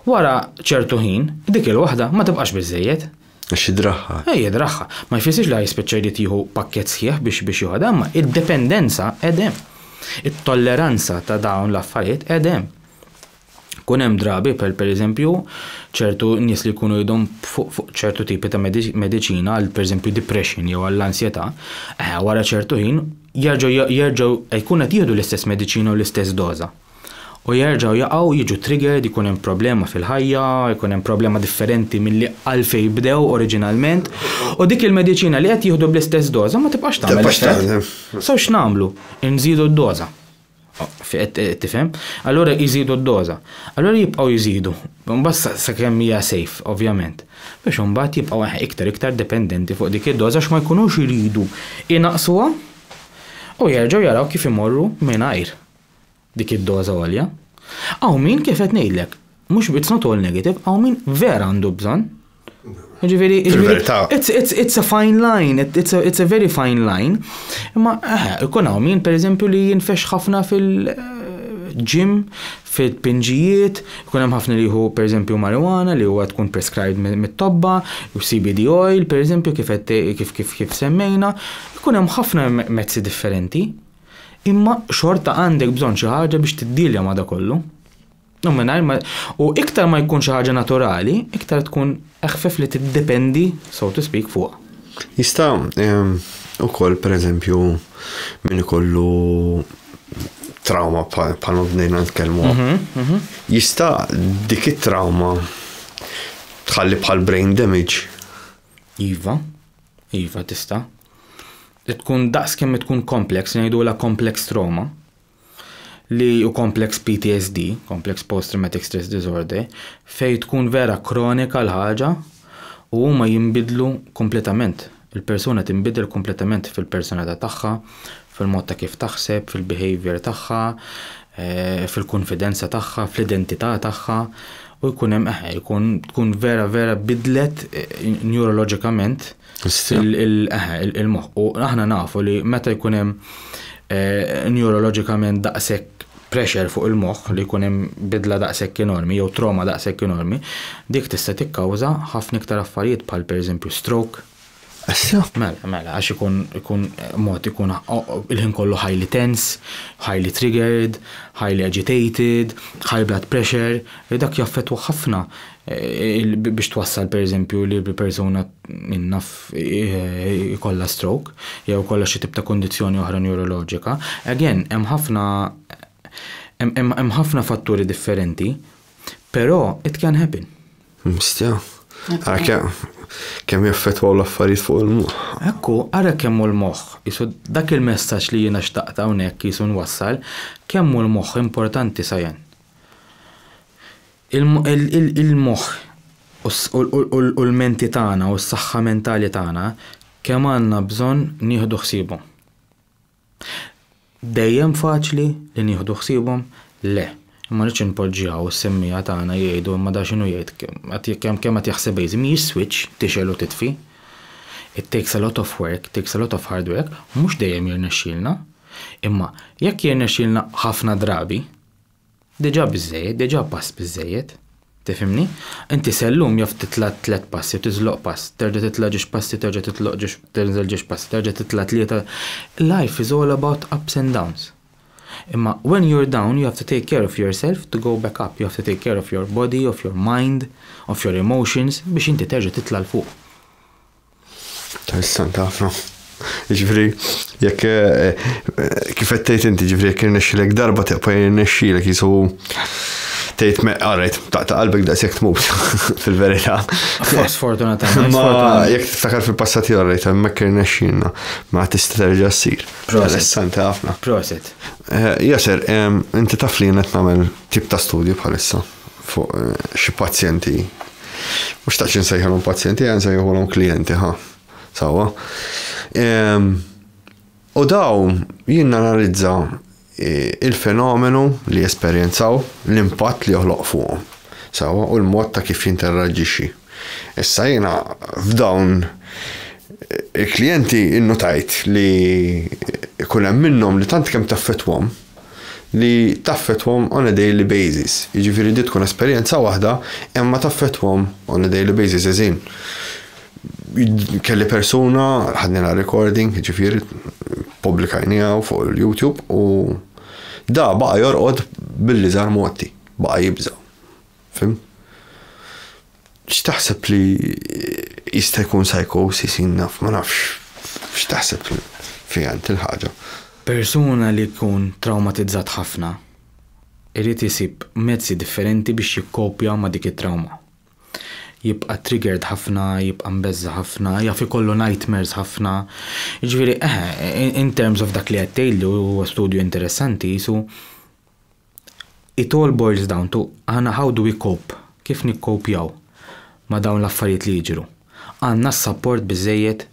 Wara ċertu ħin, dik il-waħda ma tibqax biżżejjed. Għax jidraħħa. Eh, jidraħħa. Ma jfissirx li ħa jispiċċa jrid jieħu pakkett sħiħ biex biex joħodha, imma id-dependenza qed hemm. It-tolleranza ta' dawn l-affarijiet qed hemm. Kun hemm drabi per pereżempju ċertu nies li jkunu jidhom fuq fuq ċertu tipi ta' mediċina għal pereżempju depression jew għall-ansjetà, eh, wara ċertu ħin jerġgħu jerġgħu jkun qed jieħdu l-istess mediċina u l-istess doża. u jerġgħu jaqgħu jiġu triggered, ikun hemm problema fil-ħajja, ikun hemm problema differenti milli għalfejn bdew oriġinalment, u dik il-mediċina li qed jieħdu bl-istess doża ma tibqax tagħmel effett. So x'nagħmlu? Inżidu d-doża. Qed tifhem? Allura jżidu d-doża. Allura jibqgħu jżidu, mbagħad sakemm hija safe, ovvjament. Biex imbagħad jibqgħu iktar iktar dependenti fuq dik id-doża għax ma jkunux iridu jnaqqsuha u jerġgħu jaraw kif imorru mingħajr. dik id-doża għolja. Hawn min, kif qed ngħidlek, mhux it's not all negative, hawn min vera għandu bżonn. Ġifieri, it's a fine line, it's a, it's a very fine line. Imma eh, ikun hawn min pereżempju li jinfex ħafna fil- ġim fit-pinġijiet, kun hemm ħafna li jieħu pereżempju marijuana li huwa tkun prescribed mit-tobba, u CBD oil pereżempju kif kif kif kif semmejna, kun hemm ħafna mezzi differenti. Imma xorta għandek bżonn xi ħaġa biex tiddielja ma' da kollu. U mingħajr ma u iktar ma jkun xi ħaġa naturali, iktar tkun eħfef li tiddependi, so to speak, fuqha. Jista' ehm, ukoll pereżempju min ikollu trauma bħal ma bdejna nitkellmu. Mhm, mhm. Jista' dik it-trauma tħalli bħal brain damage. Iva. Iva tista'. Tkun daqs kemm tkun complex, ngħidulha complex trauma, li u complex PTSD, complex post traumatic stress disorder, fej tkun vera kronika l-ħaġa u huma jinbidlu kompletament. Il-persuna tinbidel kompletament fil-personalità tagħha, fil-mod ta' kif taħseb, fil-behavior tagħha, fil-kunfidenza tagħha, fl-identità tagħha u jkun hemm eħe, jkun tkun vera vera bidlet neurologicament il-moħħ. U aħna nafu li meta jkun hemm neurologicament daqshekk pressure fuq il-moħħ li jkun hemm bidla daqshekk enormi jew trauma daqshekk enormi, dik tista' tikkawża ħafna iktar affarijiet bħal pereżempju stroke, Issa? Mela, mela, għax ikun ikun mod ikun il-ħin kollu highly tense, highly triggered, highly agitated, high blood pressure, li dak jaffettwa ħafna biex twassal pereżempju li persuna naf ikollha stroke jew ikollha xi tip ta' kundizzjoni oħra neuroloġika. Again, hemm ħafna hemm ħafna fatturi differenti, però it can happen. Mistja. Għara kemm jaffetwaw l-affarijiet fuq il-moħħ. Ekku, għara kemm hu l-moħħ. Isu dak il-messaġġ li jiena xtaqt hawnhekk isu nwassal, kemm hu l-moħħ importanti sajan. Il-moħħ u l-menti tagħna u s-saħħa mentali tagħna kemm għandna bżonn nieħdu ħsiebhom. Dejjem faċli li nieħdu ħsiebhom? Le. Imma rridx inpoġġi hawn is-semmiegħa tagħna jgħidu imma da x'inhu jgħid, kemm kemm qed jaħseb Waze, mhijiex switch tixgħel u titfi. It takes a lot of work, takes a lot of hard work, mhux dejjem jirnexxielna. Imma jekk jirnexxielna ħafna drabi, Diġà biżżejjed, diġà pass biżżejjed. Tifhimni? Inti se llum jaf titla' tliet passi u tiżloq pass, terġa' titla' ġiex passi terġa' titloq ġiex tinżel ġiex passi, terġa' titla' tlieta. Life is all about ups and downs. Imma when you're down you have to take care of yourself to go back up, you have to take care of your body, of your mind, of your emotions biex inti terġa' titla' 'l fuq. Interessanti ħafna. Ġifri, jekk eh, eh, kif qed tgħid inti, ġifri jekk irnexxilek darba teqpa' jirnexxilek jisu tgħid me qarajt taqta' qalbek daqshekk tmut fil-verità. Sfortunatament. Ma jekk tiftakar fil-passat jarrejt hemmhekk irnexxilna ma tista' terġa' ssir. Interessanti ħafna. Prosit. Eh, Jaser, inti taf li qed nagħmel tip ta' studju bħalissa. fuq xi pazjenti. Mhux xtaqx insejħilhom pazjenti, għan sejħilhom klijenti, ha. Sawa. U daw jien analizza il-fenomenu li jesperjenzaw, l-impatt li joħloq fuqhom. Sawa, u l-mod ta' kif jinterraġixxi. Issa jiena f'dawn il-klijenti innutajt li ikun hemm minnhom li tant kemm taffetwhom, li taffettwahom on a daily basis. Jiġifieri din tkun esperjenza waħda imma taffettwahom on a daily basis, as in kelli persuna, ħadnielha recording jiġifieri ppubblikajniha fuq il-YouTube u da baqa' jorqod bil-liżgħar mgħotti, baqa' jibża'. Fim? X'taħseb li jista' jkun psychosis jien naf ma nafx x'taħseb fiha int il-ħaġa. Persuna li jkun trawmatizzat ħafna irid isib mezzi differenti biex jikkopja ma' dik it-trawma. Jibqa' triggered ħafna, jibqa' mbeżża' ħafna, jaf ikollu nightmares ħafna. Jiġifieri eħe, in terms of dak li qed tgħidli u huwa studju interessanti qisu It all boils down to aħna how do we cope, kif nikkopjaw ma' dawn l-affarijiet li jiġru? Għandna s-sapport biżżejjed?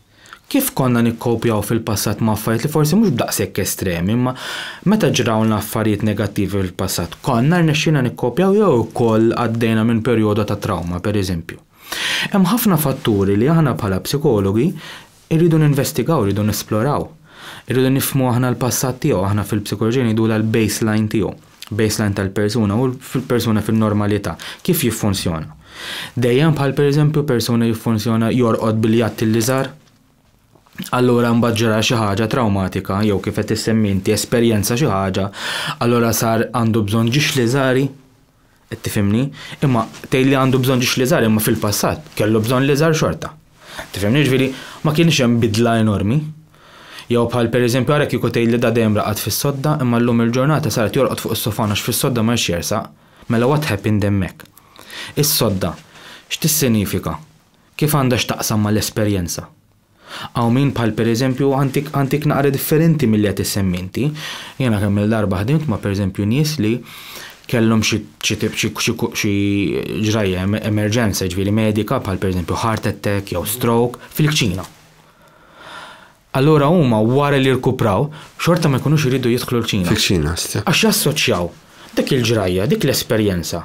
Kif konna nikkopjaw fil-passat ma' affarijiet li forsi mhux b'daqshekk estremi imma meta ġrawlna affarijiet negattivi fil-passat, konna rnexxielna nikkopjaw jew ukoll għaddejna minn perjodo ta' trawma, pereżempju? Hemm ħafna fatturi li aħna bħala psikologi Irridu ninvestigaw, irridu nesploraw. Irridu nifhmu aħna l-passat tiegħu, aħna fil-psikoloġija ngħidulha l-baseline tiegħu. Baseline tal-persuna u fil-persuna fin-normalità. Kif jiffunzjona? Dejjem bħal pereżempju persuna jiffunzjona jorqod biljatti l-iżgħar? Allura mbagħad ġara xi ħaġa trawmatika jew kif qed issemmi inti esperjenza xi ħaġa, allura sar għandu bżonn ġiexli żgħari? Qed tifhimni? Imma tgħid li għandu bżonn ġiex l-iżgħar imma fil-passat kellu bżonn l-iżgħar xorta. Tifhimni? Jiġifieri ma kienx hemm bidla enormi. Jew bħal pereżempju ara kieku tgħid li da dejjem raqad fis-sodda imma llum il-ġurnata sar qed jorqod fuq is-sofan għax fis-sodda ma jridx jersaq. Mela what happened hemmhekk? Is-sodda x'tissinifika? Kif għandha x'taqsam mal-esperjenza? Hawn min bħal pereżempju għantik għantik naqra differenti milli qed issemmi inti. Jiena kemm-il darba ħdimt ma' pereżempju nies li kellhom xi xi tip xi xi xi ġrajja emerġenza jiġifieri medika bħal pereżempju heart attack jew stroke fil-kċina. Allura huma wara li rkupraw xorta ma jkunux iridu jidħlu l-kċina. Fil-kċina, stja. Għax jassoċjaw dik il-ġrajja, dik l-esperjenza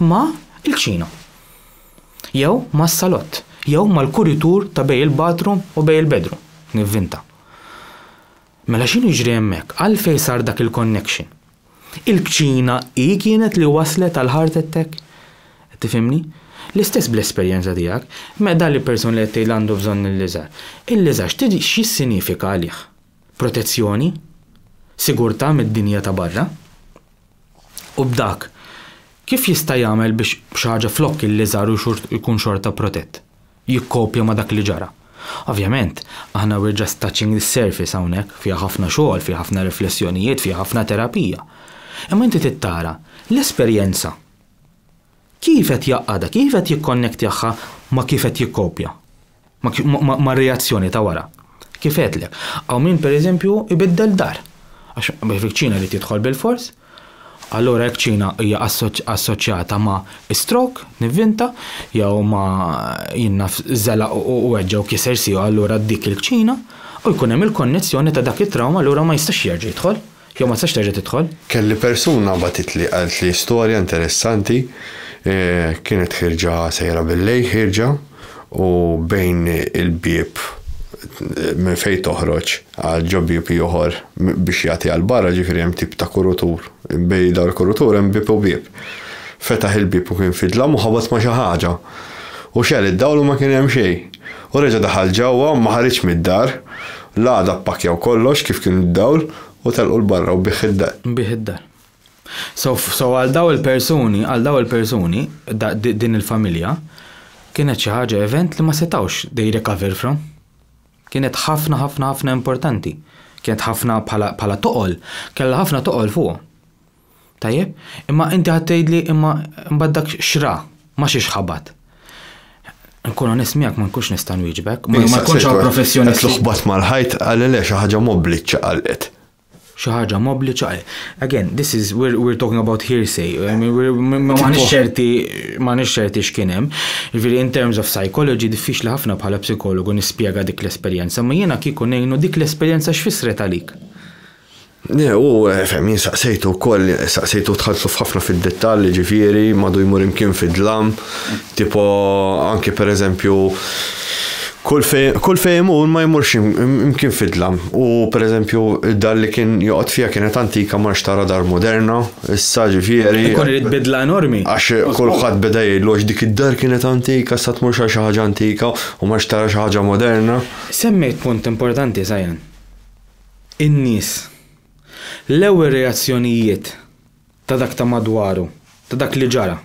ma' il-kċina, jew mas-salott, jew mal-kuritur ta' bejn il-bathroom u bejn il-bedroom, nivvinta. Mela x'inhu jiġri hemmhekk? Għalfejn sar dak il-connection? Il-kċina hi kienet li wasslet għal heart attack? Qed tifhimni? L-istess bl-esperjenza tiegħek, me dan il-person li qed tgħid li għandu bżonn il-liżar. Il-liżar x'tidi x'jissinifika għalih? Protezzjoni? Sigurtà mid-dinja ta' barra? u b'dak, kif jista' jagħmel biex xi ħaġa flokk il-liżar u jkun xorta protett? Jikkopja ma' dak li ġara. Ovvjament, aħna we're just touching the surface hawnhekk, fiha ħafna xogħol, fiha ħafna riflessjonijiet, fiha ħafna terapija. Imma inti trid tara l-esperjenza Kif qed jgħaqqadha, kif qed jikkonnektjahha ma' kif qed jikkopja, mar-reazzjoni ta' wara. Kif għedtlek, hawn min pereżempju jbiddel dar, għax fiċ-ċina jrid jidħol bilfors, allura jekk ċina hija assoċjata ma' stroke, nivvinta, jew ma' jien naf żelaq u weġġa' u kiser siequ allura dik il-kċina, u jkun hemm il-konnezzjoni ta' dak it-trawma allura ma jistax jerġa' jidħol. Jew ma tistax terġa' tidħol. Kelli persuna bagħtitli qaltli storja interessanti, kienet ħierġa sejra bil-lejl ħierġa u bejn il-bieb minn fejn toħroġ għal ġo bieb ieħor biex jagħti għal barra ġifieri hemm tip ta' kurutur, bejn dawn il-kurutur hemm bieb u bieb. Fetaħ il-bieb u kien fidlam u ħabat ma' xi ħaġa u xegħel id-dawl u ma kien hemm xejn. U reġa' daħal ġewwa u ma ħariġx mid-dar. L-għada ppakkjaw kollox kif kien id-dawl u telqu 'l barra u biegħ id-dar. Biegħ id-dar. So, so għal dawn il-persuni, għal dawn il-persuni, da, di, din il-familja, kienet xi ħaġa event li ma setgħux they recover from. Kienet ħafna ħafna ħafna importanti. Kienet ħafna bħala, bħala toqol, kellha ħafna toqol fuqhom. Tajjeb, imma inti qed tgħidli imma mbagħad dak x'ra, ma xiex ħabat. Nkun onest miegħek ma nkunx nista' nwieġbek, ma jkunx hawn professjonisti. Qed ħabat mal-ħajt għal le xi ħaġa mobbli ċċaqalqet. Xi ħaġa mobbli ċċaqalqet. Again, this is we're, we're talking about hearsay. I mean, we're, ma nix ċerti, ma nix ċerti x'kien hemm. Jiġifieri in terms of psychology diffiċli ħafna bħala psikologu nispjega dik l-esperjenza, ma jiena kieku ngħinu dik l-esperjenza x'fissret għalik. Le, u, fehmi, jien saqsejtu wkoll, saqsejtu tħallsu f'ħafna fid-dettall, jiġifieri, madu jmur imkien fid-dlam, tipo anki pereżempju kull fejn kull fejn imur ma jmurx imkien fid-dlam. U pereżempju d-dar li kien joqgħod fiha kienet antika ma rridx tara dar moderna, issa ġifieri. Ikun irid bidla enormi. Għax kulħadd beda jgħidlu għax dik id-dar kienet antika issa tmurx għal xi ħaġa antika u ma rridx tara xi ħaġa moderna. Semmejt punt importanti Zajan. in-nies. L-ewwel reazzjonijiet ta' dak ta' madwaru, ta' dak li ġara,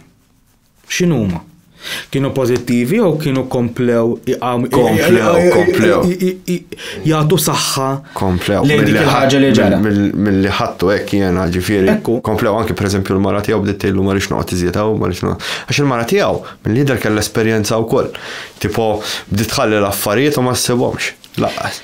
x'inhuma? Kienu pożittivi jew kienu komplew jagħtu saħħa lejn dik il-ħaġa li ġara? Milli ħadtu hekk jiena ġifieri. Komplew anke pereżempju l-mara tiegħu bdiet tgħidlu ma rridx noqgħod iżjed hawn, ma rridx noqgħod. Għax il-mara tiegħu mill-jidher kellha esperjenza wkoll. Tipo bdiet tħalli l-affarijiet u ma ssibhomx lanqas.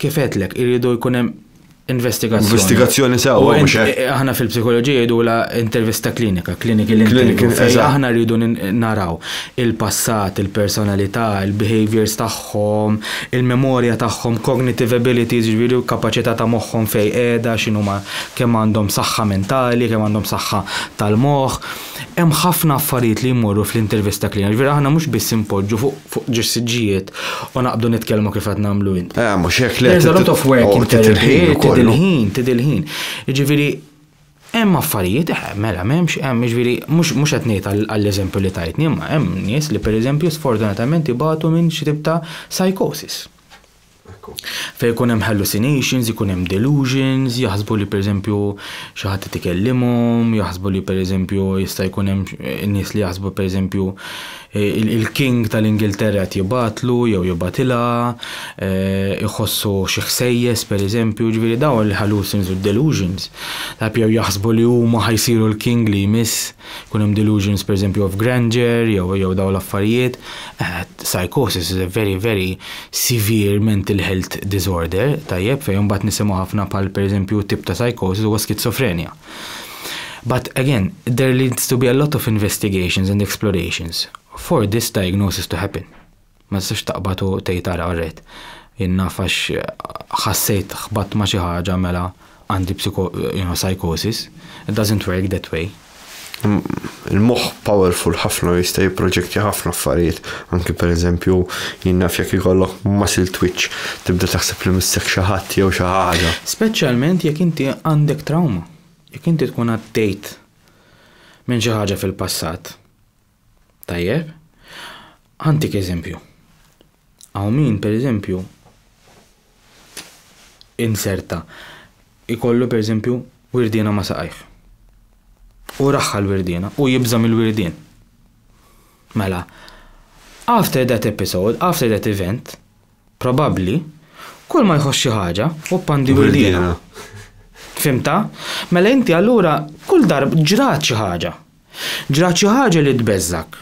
Kif għedlek, irridu jkun hemm investigazzjoni. Investigazzjoni sewwa. Aħna fil-psikoloġija jgħidu la intervista klinika, kliniki l-intervju. Aħna rridu naraw il-passat, il-personalità, il-behaviors tagħhom, il-memorja tagħhom, cognitive abilities, ġifieri kapaċità ta' moħħhom fejn qiegħda, x'inhuma kemm għandhom saħħa mentali, kemm għandhom saħħa tal-moħħ. Hemm ħafna affarijiet li jmorru fl-intervista cleaner, jiġifieri aħna mhux biss inpoġġu fuq ġis-siġġijiet u naqbdu nitkellmu kif qed nagħmlu int. Le, mhux hekk, le. There's a lot of work in therapy, tidhi l-ħin, tidhi l-ħin. Jiġifieri hemm affarijiet, eh, mela m'hemmx, hemm, jiġifieri mhux qed ngħid għall-eżempju li tajtni, imma hemm nies li pereżempju sfortunatament ibatu minn xi tip ta' psychosis. Fejn ikun hemm hallucinations, ikun hemm delusions, jaħsbu li pereżempju xi ħadd qed ikellimhom, jaħsbu li pereżempju jista' jkun hemm nies li jaħsbu pereżempju il-King tal-Ingilterra qed jibgħatlu jew jibgħatilha, iħossu xi ħsejjes pereżempju, jiġifieri dawn il-hallucins u d-delusions. Jew jaħsbu li huma ħa jsiru l-King li jmiss. Jkun hemm delusions pereżempju of grandeur jew jew dawn l-affarijiet. Eh, psychosis is a very very severe mental health disorder, tajjeb, fejn imbagħad nisimgħu ħafna bħal pereżempju tip ta' psychosis huwa skizofrenja. But again, there needs to be a lot of investigations and explorations for this diagnosis to happen. Ma tistax taqbad u tgħid ara qrejt. Jien naf għax ħassejt ħbatt ma' xi ħaġa mela għandi psycho, you know, psychosis. It doesn't work that way. Il-moħħ powerful ħafna u jista' jipproġektja ħafna affarijiet. Anki per eżempju, jien naf jekk ikollok muscle twitch, tibda taħseb li missek xi ħadd jew xi ħaġa. Speċjalment jekk inti għandek trawma. Jekk inti tkun għaddejt minn xi ħaġa fil-passat. Tajjeb? Ħantik eżempju. Hawn min, pereżempju, inserta ikollu pereżempju wirdiena ma' saqajh. U raħħa l-wirdiena u jibża' mill-wirdien. Mela, after that episode, after that event, Probabbli, kull ma jħoss xi ħaġa, hu pandi wildiena. Fimta? Mela inti allura kull darb ġrat xi ħaġa. Ġrat xi ħaġa li tbeżżak.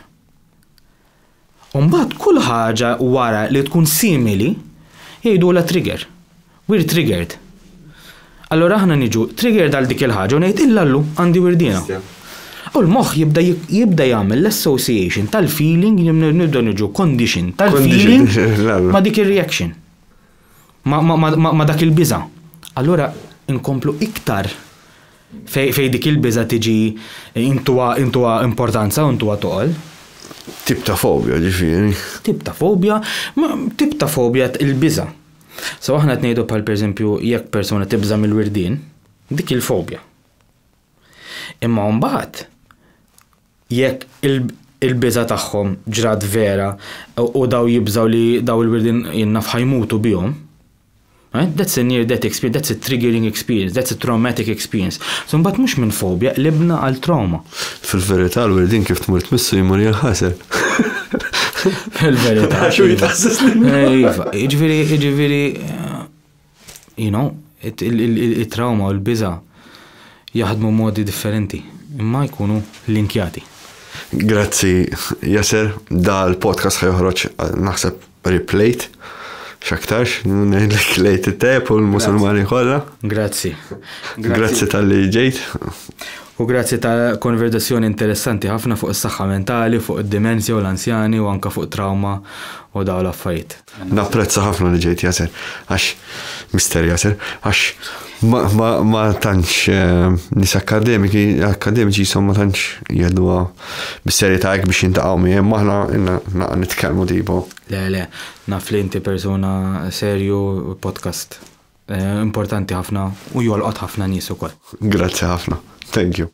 Umbagħad kull ħaġa wara li tkun simili jgħidulha trigger. We're triggered. Allura aħna niġu triggered għal dik il-ħaġa u ngħid illa llum għandi wirdiena. U l-moħħ jibda jibda jagħmel l-association tal-feeling nibda niġu condition tal-feeling ma' dik ir-reaction. Ma' dak il-biża. Allura inkomplu iktar fej dik il-biża tiġi intuwa importanza u intuwa toqol. Tip ta' fobja ġifieri. Tip ta' fobja, tip ta' fobja il-biża. So aħna qed ngħidu bħal pereżempju jekk persuna tibża' mill-wirdien, dik hi l-fobja. Imma mbagħad jekk il-biża' tagħhom ġrat vera u daw jibżgħu li daw il-wirdien jinnaf ħajmutu bihom, eh, that's a near death experience, that's a triggering experience, that's a traumatic experience. So mbagħad mhux minn fobja qlibna għal trauma. Fil-verità l-wirdin kif tmur tmissu jmur jinħasel. Fil-verità. Għax u jitħasses Iva, iġviri, iġviri, you know, il-trauma u l-biza jaħdmu modi differenti, imma jkunu linkjati. Grazzi, Jaser, da l-podcast ħajħroċ, naħseb Riplejt. X'aktarx, ngħidlek lejt it-tajjeb u l-Musulmani kollha. Grazzi. Grazzi tal-li ġejt. U grazzi ta' konverzazzjoni interessanti ħafna fuq is-saħħa mentali, fuq id-dimensja u l-anzjani u anke fuq trawma u dawn l-affarijiet. Napprezza ħafna li ġejt Yasser, għax Mister Yasser, għax Ma tantx nis akademiki, akademiċi jisom ma tantx jgħiduha bis-serjetà hekk biex jintaqgħu miegħi, maħna naqa' nitkellmu tipo. Le, le, naf li inti persuna serju podcast eh, importanti ħafna u jolqot ħafna nies ukoll. Grazzi ħafna. Thank you.